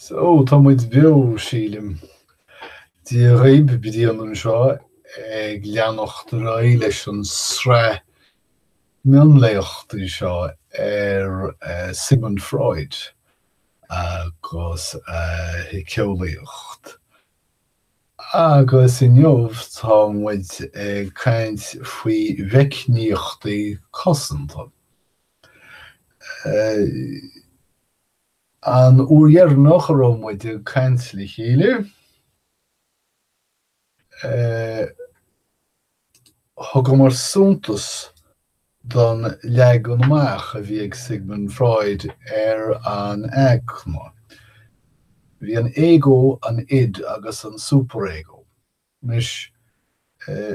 So, tá muid beo, sílim. Dia dhaoib, Brian anseo ag leanacht ar aghaidh leis an sraith mionléachtaí seo ar Sigmund Freud agus a shiceolaíocht. Agus inniu tá muid ag caint faoi meicníochtaí cosanta. An uair dheireanach a raibh muid ag caint le chéile, thugamar suntas don leagan amach a bhí ag Sigmund Freud ar an aigne. Bhí an ego, an id agus an superego Anois,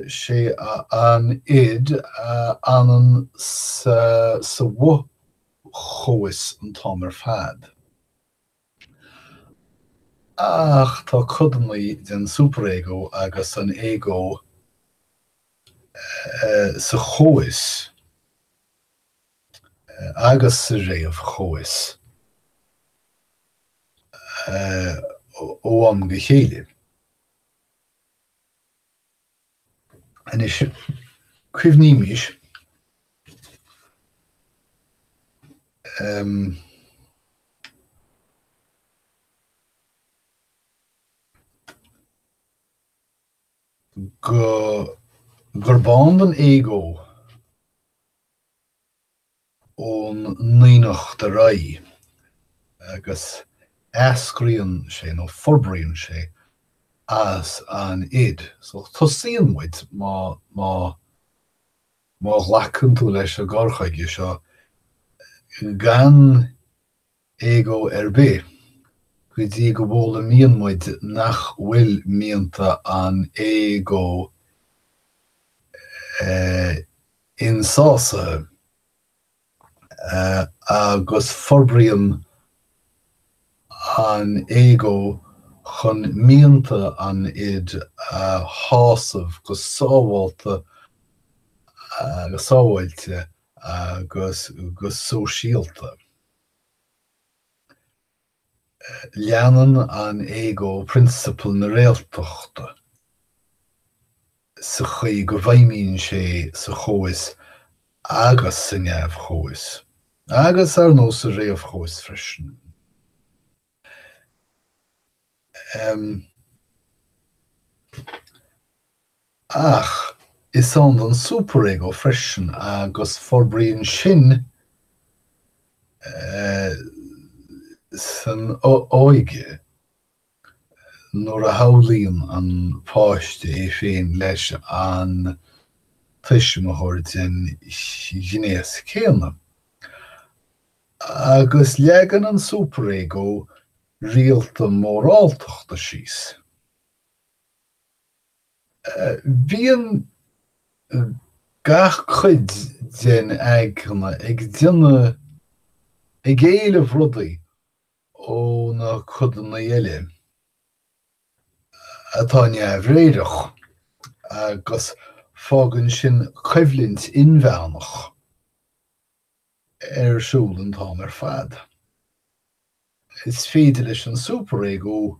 'sé an id a fhanann sa bhfo-chomhfhios an t-am ar fad. Ach tá codanna den superego agus an ego sa chomhfhios agus sa réamh-chomhfhios ó am go chéile. Anois, cuimhnímis gurb ann don ego. ón naíonacht ar aghaidh agus eascraíonn sé nó forbraíonn sé as an id. So tosaíonn muid, má, má, má ghlacann tú leis an gcur chuige seo, gan. ego ar bith, go dtí go bhfoghlaimíonn muid nach bhfuil mianta an ego insásaithe, agus forbraíonn an ego chun mianta an id a shásamh go sábhálta, go sábháilte agus go sóisialta. Leanann an ego prionsapal na réaltachta sa chaoi go bhfeidhmíonn sé sa chomhfhios agus sa neamh-chomhfhios, agus ar ndóigh sa réamh-chomhfhios freisin. Ach is ann don superego freisin agus forbraíonn sin san óige nuair a shamhlaíonn an páiste é féin leis an tuismitheoir den ghnéas céanna. Agus leagann an Super-Ego rialacha moráltachta síos. Bíonn gach cuid den aigne ag déanamh, ag éileamh rudaí ó na codanna eile atá neamhréireach, agus fágann sin coimhlint inmheánach. ar siúl an t-am ar fad. Is féidir leis an superego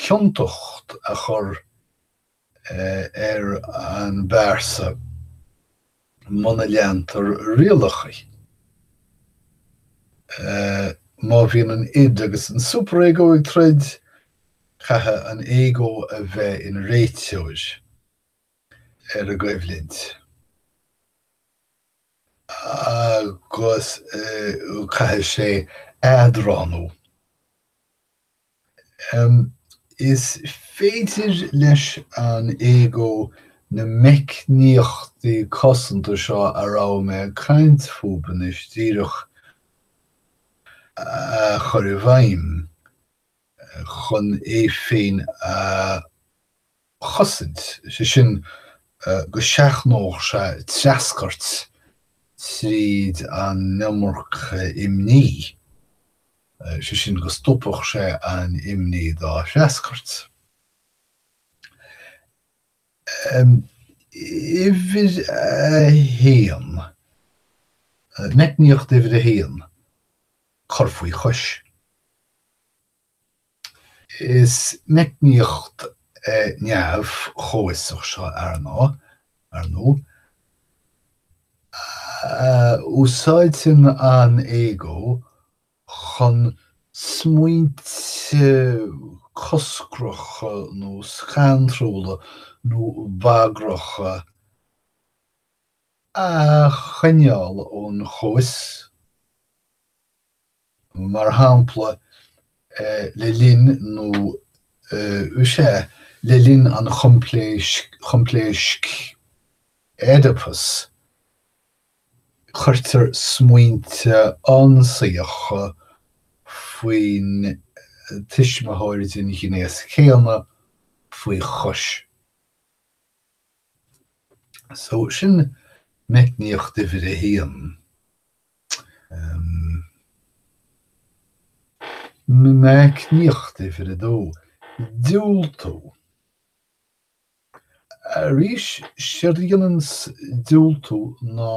ciontacht a chur ar an bpearsa muna leantar rialachaí, má bhíonn an id agus an superego ag troid, caithfidh an ego a bheith ina réiteoir. ar an gcoimhlint agus caithfidh sé eadránú. Is féidir leis an ego na meicníochtaí cosanta seo a raibh mé ag caint fúbu anois díreach a chur i bhfeidhm chun é féin a chosaint, sé sin go seachnódh sé treascairt tríd an iomarca imní, sé sin go stopfadh sé an imní dá threascairt. Uimhir a haon, meicníocht uimhir a haon, cur faoi chois. Is meicníocht neamh-chomhfhiosach seo arna, ar ndú, a úsáideann an ego chun smaointe coscracha nó scantrúla nó bagracha a choinneáil ón chomhfhios. Mar shampla, le linn nó sea, le linn an choimpléasc Oedipus, cuirtear smaointe ionsaíocha faoin tuismitheoir den ghnéas céanna faoi chois. So, sin meicníocht uimhir a haon. Meicníocht uimhir a dó, Diúltú Arís séard a dhéanann diúltú ná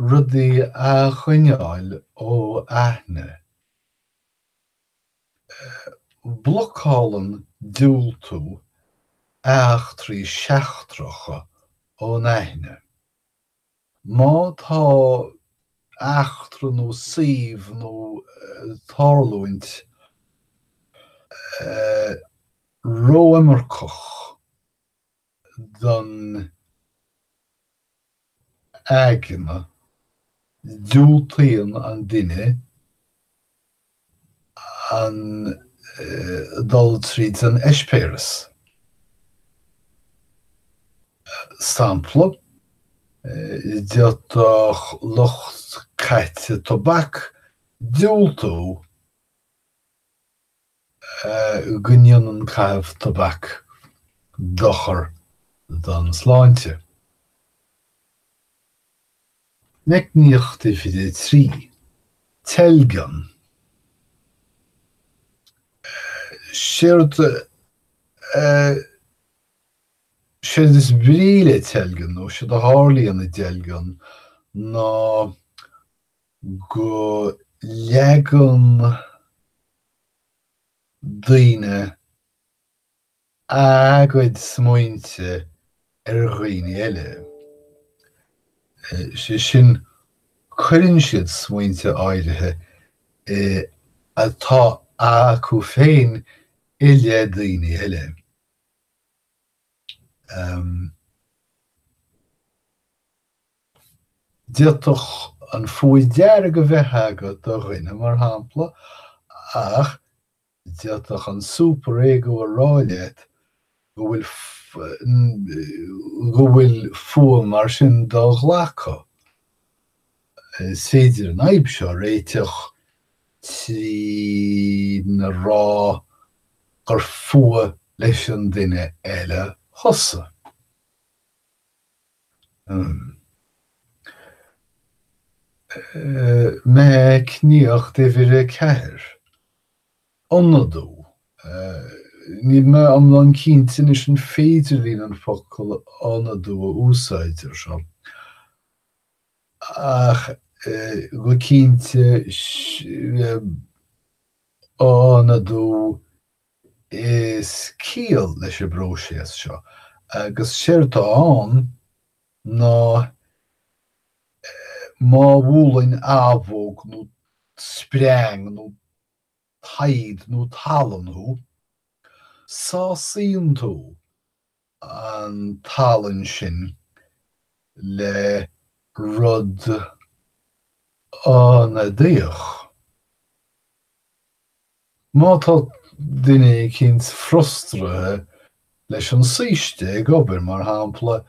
rudaí a choinneáil ó aithne. Blocálann diúltú eachtraí seachtracha ón aithne. Má tá eachtra nó suíomh nó tarlúint ró-iomarcach don aigne, diúltaíonn an duine an dul tríd an eispéireas. Sampla, d'fhéadfadh lucht caite tobac diúltú go ndéanann caitheamh tobac dochar don tsláinte. Meicníocht uimhir a trí, teilgean. Séard is brí le teilgean, nó séard a tharlaíonn i dteilgean, ná go leagann daoine, a gcuid smaointe ar dhaoine eile, sé sin cuireann siad smaointe áirithe atá acu féin i leith daoine eile. D'fhéadfadh an fuath dearg a bheith agat do dhuine, mar shampla, ach D'fhéadfadh an Super Ego a rá leat go bhfuil go bhfuil fuath mar sin do-ghlactha. Is féidir an fhadhb seo a réiteach trína rá gur fuath leis an duine eile thusa. Meicníocht uimhir a ceathair, ionadú. Níl mé iomlán cinnte anois an féidir linn an focal ionadú a úsáid ar seo, ach go cinnte, ionadú Is ciall leis an bpróiséas seo, agus séard atá ann ná má bhuaileann abhóg nó spreang nó taghd nó tallann thú, sásaíonn tú an tallann sin le rud ionadaíoch. Má tá duine eicínt frustraithe leis an saoiste ag obair, mar shampla,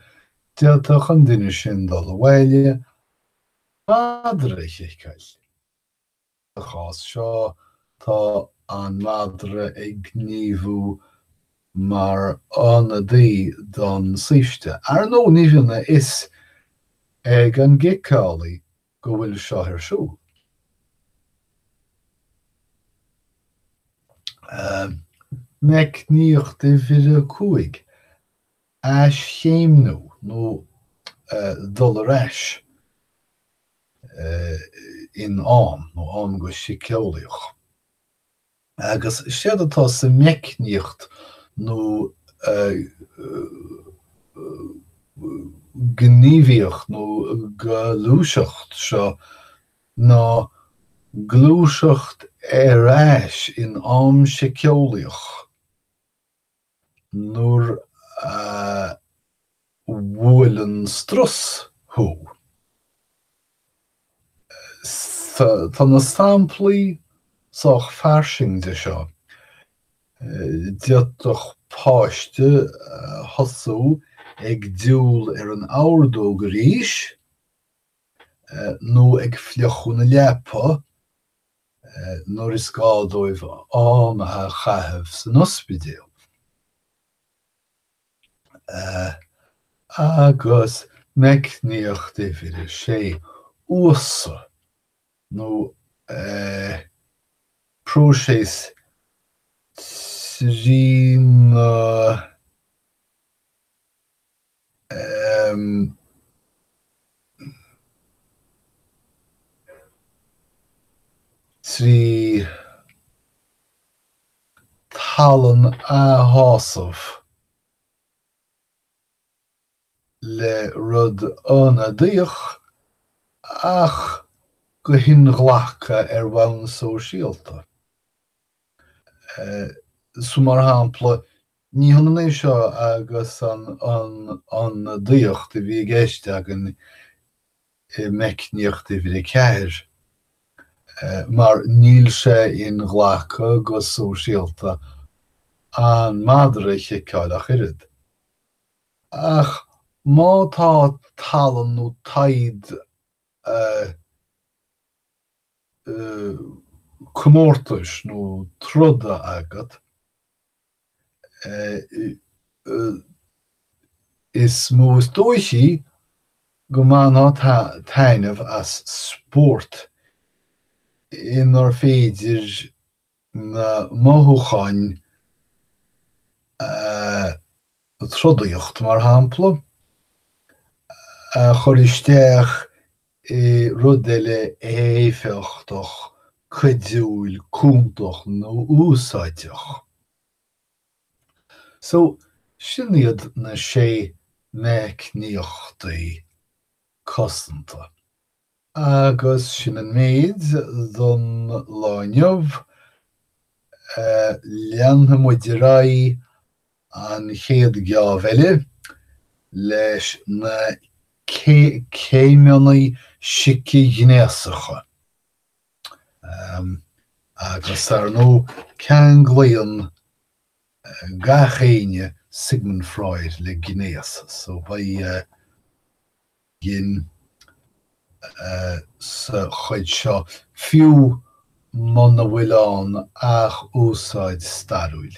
d'fhéadfadh an duine sin dul abhaile, madra a chiceáil. Sa chás seo, tá an madra ag gníomhú mar ionadaí don saoiste. Ar ndóigh, ní bhíonn a fhios ag an gciceálaí go bhfuil seo ar siúl. Meicníocht uimhir a cúig. aischéimniú nó dul ar ais in am nó am go síceolaíoch, agus séard atá sa meicníocht nó gníomhaíocht nó gluaiseacht seo ná gluaiseacht ar ais in am síceolaíoch. Nuair a bhuaileann strus thú. Tá na samplaí sách fairsing de seo. D'fhéadfadh páiste thosú ag diúl ar an ordóg arís nó ag fliuchadh na leapa, nuair is gá dóibh am a chaitheamh san ospidéal agus meicníocht uimhir a sé uasadh nó próiseas trína trí tallann a shásamh le rud ionadaíoch ach go hinghlactha ar bhonn sóisialta, mar shampla, Ní hionann é seo agus an ionadaíocht a bhí i gceist againn i Meicníocht Uimhir 4, mar níl sé inghlactha go sóisialta an madra a chiceáil ach oiread. Ach má tá tallann nó taghad comórtais nó troda agat, is mó is dóichí go mbainfeá taitneamh as spórt inar féidir na mothúcháin trodaíochta, mar shampla, a chur isteach i rud eile éifeachtach, cuidiúil, cúntach nó úsáideach. So, sin iad na sé meicníochtaí cosanta. Agus sin an méid don lá inniu. Leanfaidh muid ar aghaidh An chéad gheábh eile, leis na céimeanna sici-ghnéasacha, agus ar ndóigh ceanglaíonn gach éinne Sigmund Freud le gnéas, so beidh sin sa chuid seo, fiú muna bhfuil ann ach úsáid stairiúil.